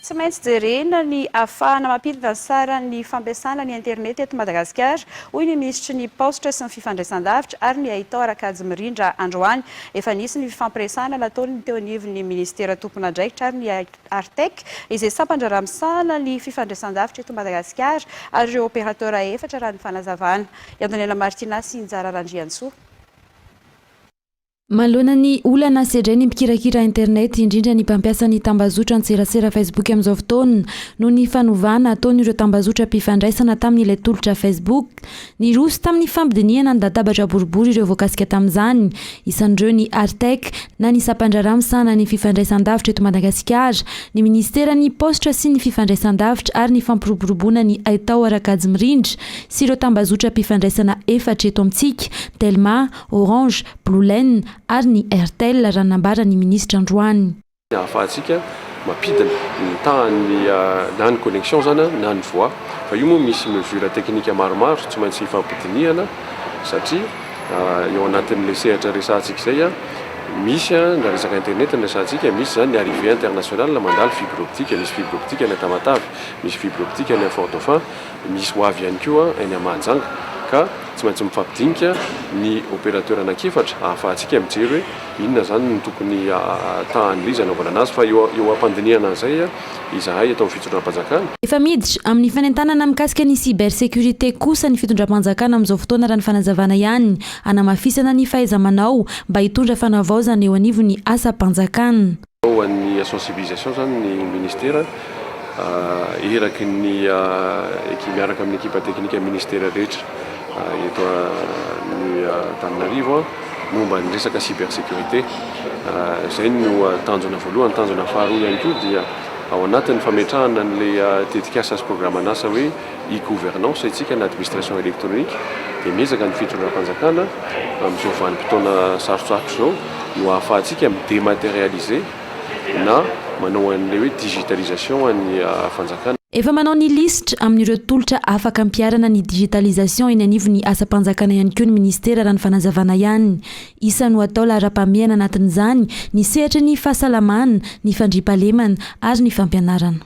Tsy maintsy jerena ny hahafahana mampidina ny saran'ny fampiasana ny internet eto Madagasikara, hoy ny minisitry ny Paositra sy ny fifandraisan-davitra ary ny haitao Rakajy Mirindra androany. Efa nisy ny fifampiresahana nataon'ny teo anivon'ny minisitera tompon'andraikitra ary ny Artec, izay sampan-draharaha misahana ny fifandraisan-davitra eto Madagasikara ary ireo opérateurs efatra raha ny fanazavana. I Andoniaina Martina sy i Njara Randriantsoa. Manoloana ny olana sedren'ny mpikirakira internet, indrindra ny mpampiasa ny tambazotra an-tserasera Facebook amin'izao fotoana, noho ny fanovana ataon'ireo tambazotram-pifandraisana tamin'ilay tolotra Facebook, niroso tamin'ny fampidinihana ny latabatra boribory ireo voakasika tamin'izany, isan'ireo ny Artec na ny Sampandraharaha misahana ny Fifandraisandavitra eto Madagasikara, ny Ministeran'ny Paositra sy ny Fifandraisandavitra ary ny Fampiroboroboana ny Haitao ara-kajy mirindra, sy ireo tambazotram-pifandraisana efatra eto amintsika, Telma, Orange, Blue Line ary ny Airtel, raha nambara ny minisitra androany. Ahafahantsika mampidina ny tahan'ny na ny connexion izany na ny voix fa io moa misy mesures techniques maromaro tsy maintsy hifampidinihana satria eo anatin'ilay sehatra resahantsika izay misy ny resaka internet no resahantsika, misy izany ny arrivée internationale mandalo fibre optique, misy fibre optique any Tamatave, misy fibre optique any Fort-Dauphin. Misy ho avy ihany koa eny Mahajanga ka tsy maintsy mifampidinika ny opérateur anankiefatra ahafahantsika mijery hoe inona izany no tokony tahan'ilay izy hanaovana anazy fa eo eo am-pandinihana an'izay izahay eto amin'ny fitondram-panjakana. Efa miditra amin'ny fanentanana mikasika ny cybersécurité kosa ny fitondram-panjakana amin'izao fotoana raha ny fanazavana ihany hanamafisana ny fahaiza-manao mba hitondra fanavaozana eo anivon'ny asam-panjakana. Ho an'ny sensibilisation zany ny ministera eraky ny miaraka amin'ny ekipa teknika ministera rehetra eto amin'ny Antananarivo momba ny resaka cyber sécurité. Izay no tanjona voalohany. Tanjona faharoa ihany koa dia ao anatin'ny fametrahana an'ilay tetikasa sy programan'asa hoe. e-gouvernance isika na administration électronique dia miezaka ny fitondram-panjakana amin'izao vanim-potoana sarotsarotra izao no ahafahantsika mi-dématérialiser na manao an'ilay hoe digitalisation an'ny fanjakana. Efa manao ny lisitra amin'ireo tolotra afaka ampiharana ny digitalisation eny anivon'ny asam-panjakana ihany koa ny ministera raha ny fanazavana ihany. Isa no atao laharam-pahamehana anatin'izany ny sehatry ny fahasalamana, ny fandriampahalemana ary ny fampianarana.